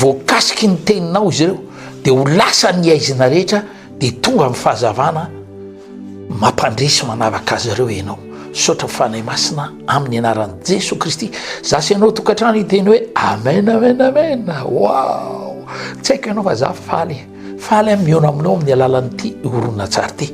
voakasiky ny teninao izy ireo dia ho lasa ny haizina rehetra dia tonga amin'ny fahazavana mampandresy manaraka azy ireo ianao sotra fanahy masina amin'ny anaran'i jesoa kristy za sy ianao tokantrano hiteny hoe amen amen amen wao tsy haiko ianao fa za faly faly am miona aminao amin'ny alalan'ity horonatsary ity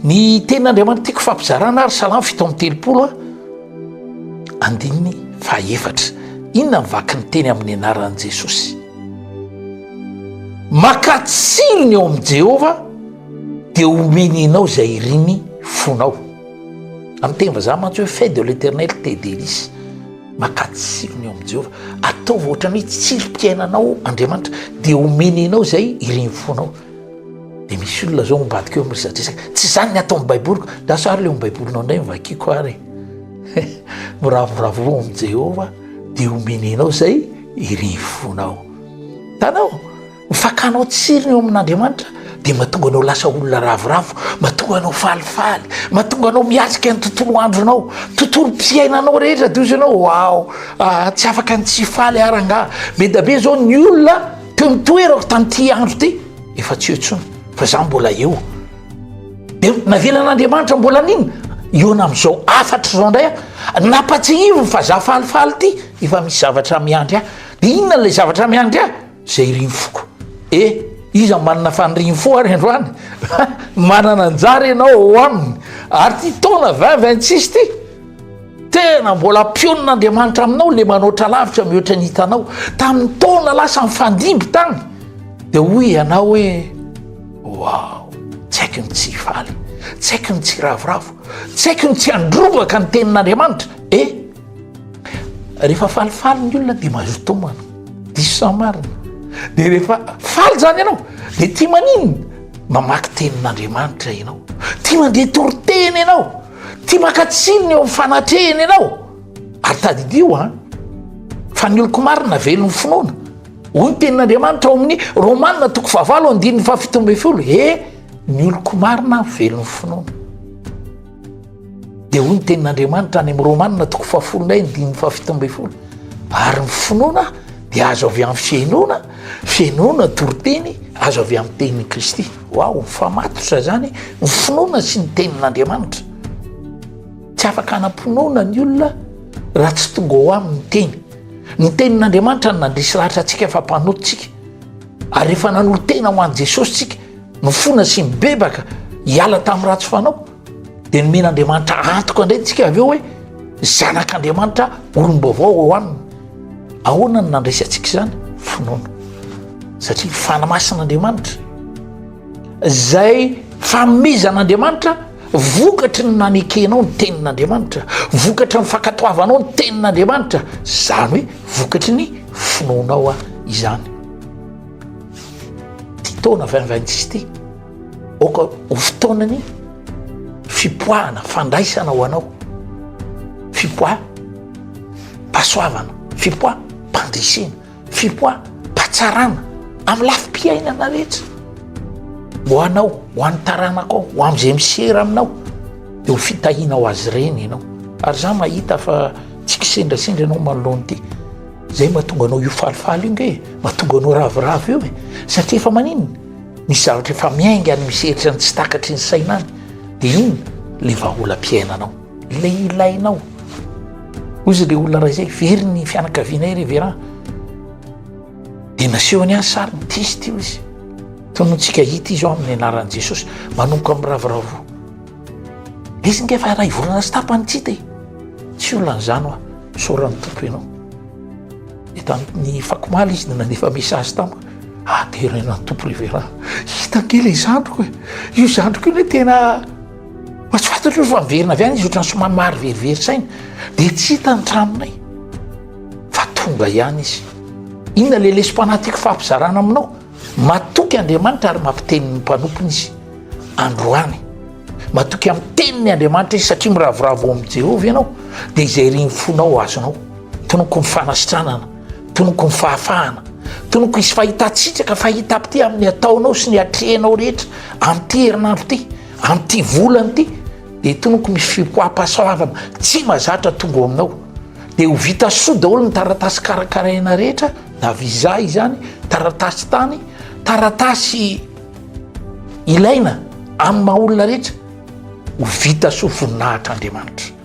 ny tenin'andriamanitra tiako fampizarana ary salamo fito amin'ny telopolo a Andininy fahaefatra. Inona ny vaky ny teny amin'ny anaran'i Jesosy? Makà tsirony eo amin'i Jehovah dia homeny anao izay irin'ny fonao. Amin'ny teny vazaha mantsy hoe fait de l'éternel tes délices. Makà tsirony eo amin'i Jehovah. Ataovy ohatran'ny hoe tsirim-piainanao Andriamanitra dia homeny anao izay irin'ny fonao. Dia misy olona zao ambadika eo miresadresaka, tsy izany ny ataon'ny Baiboliko, lasa ary ilay ao Baibolinao indray no vakiako ary e, miravoravo eo amin'i Jehovah dia homeny anao izay irin'ny fonao. Hitanao, ny fakanao tsiriny eo amin'Andriamanitra dia mahatonga anao lasa olona ravoravo, mahatonga anao falifaly, mahatonga anao miatrika ny tontolo andronao, tontolom-piainanao rehetra, dia hoy izy ianao, waouh, ah, tsy afaka ny tsy hifaly ary angaha, be dia be izao ny olona, Teo ny toerako tamin'ity andro ity, efa tsy eo intsony, fa izaho mbola eo. Dia navelan'Andriamanitra mbola an'inona? Hihaona amin'izao hafatry izao indray aho. Nampatsihiviny fa izaho falifaly ity, efa misy zavatra miandry ahy. Dia inona ilay zavatra miandry ahy? Izay irin'ny foko. Eh, iza no manana fanirin'ny fo ary androany? Manana anjara ianao ao aminy. Ary ity taona vingt vingt six ity, Tena mbola mpionin'Andriamanitra aminao le manoatra lavitra mihoatra ny hitanao. Tamin'ny taona lasa nifandimby tany dia hoy ianao hoe wow, tsy haiko ny tsy hifaly, tsy haiko ny tsy hiravoravo, tsy haiko ny tsy handrombaka ny tenin'Andriamanitra. E, rehefa falifaly ny olona dia mahazo tomana, diso sa marina? Dia rehefa faly zany ianao dia tia maninona? Mamaky tenin'Andriamanitra ianao, tia mandeha toriteny ianao. Tia maka tsiny ny eo amin'ny fanatrehany ianao. Ary tadidio an, fa ny oloko marina velon'ny finoana. Hoy ny tenin'Andriamanitra ao amin'ny Romana toko fahavalo andininy fahafito ambin'ny folo, he ny oloko marina velon'ny finoana. Dia hoy ny tenin'Andriamanitra any amin'ny Romana toko fahafolo indray andininy fahafito ambin'ny folo, ary ny finoana dia azo avy amin'ny fihainoana, fihainoana toriteny azo avy amin'ny tenin'i Kristy. Waouh! Fa matotra izany ny finoana sy ny tenin'Andriamanitra. Tsy afaka hanam-pinoana ny olona raha tsy tonga ao aminy ny teny. Ny tenin'Andriamanitra no nandresy lahatra antsika fa mpanota isika. Ary rehefa nanolo-tena ho an'i Jesosy isika, nifona sy nibebaka hiala tamin'ny ratsy fanao, Dia nomen'Andriamanitra antoka indray tsika avy eo hoe zanak'Andriamanitra olom-baovao ao aminy. Ahoana no nandraisantsika izany? Finoana. Satria fana masin'Andriamanitra. Izay fanomezan'Andriamanitra vokatry ny nanekenao ny tenin'Andriamanitra, vokatry ny fankatoavanao ny tenin'Andriamanitra, izany hoe vokatry ny finoanao izany. Ty taona vingt vingt six ty. Aoka ho fotoanan'ny fipoahana, fandraisana ho anao, fipoaha pasoavana, fipoaha pandresena, fipoaha patsarana amin'ny lafo piainana rehetra. Ho anao, ho an'ny taranakao, ho amin'izay misera aminao, eo fitahinao azy ireny ianao. Ary za mahita fa tsy kisendrasendra ianao manoloana ity. Zay mahatonga anao io falifaly io nge, mahatonga anao ravoravo io e. Satria efa maninona? Misy zavatra efa miainga any misy hery izany tsy takatry ny saina any dia iny ilay vahaolam-piainanao, ilay ilainao. Hoy izy ilay olona iray izay, very ny fianakavianay ry Vera. Dia nasehony ahy sariny, test io izy. Tonontsika hita izy ao amin'ny anaran'i Jesosy, manomboka miravoravoa. Izy nge efa iray volana sy tapany tsy hita e. Tsy olona an'izany hoa, misaoran'ny Tompo ianao. Dia tamin'ny fakomaly izy dia nandefa message tamiko. Ah deraina ny Tompo ry Vera. Hita ange ilay zandriko e. Io zandriko io anie tena mba tsy fantatro hoe efa niverina avy any izy ohatran'ny somary mariverivery saina. Dia tsy hita ny tranonay. Fa tonga ihany izy. Inona ilay lesom-panahy tiako fampizarana aminao? Matoky Andriamanitra ary mampiteny ny mpanompony izy. Androany. Matoky amin'ny teniny Andriamanitra izy satria miravoravo ao amin'i Jehovah ianao, dia izay irin'ny fonao ho azonao. Tonoko ny fanasitranana. Tonoko ny fahafahana. Tonoko hisy fahitan-tsitraka, fahitam-pitia amin'ny ataonao sy ny atrehinao rehetra amin'ity herinandro ity, amin'ity volana ity. Dia tonoko misy fipoaham-pahasoavana tsy mazatra tonga ao aminao. Dia ho vita soa daholo ny taratasy karakaraina rehetra, na visa izany, taratasy tany, taratasy ilaina amin'ny maha olona rehetra. Ho vita soa voninahitr'Andriamanitra.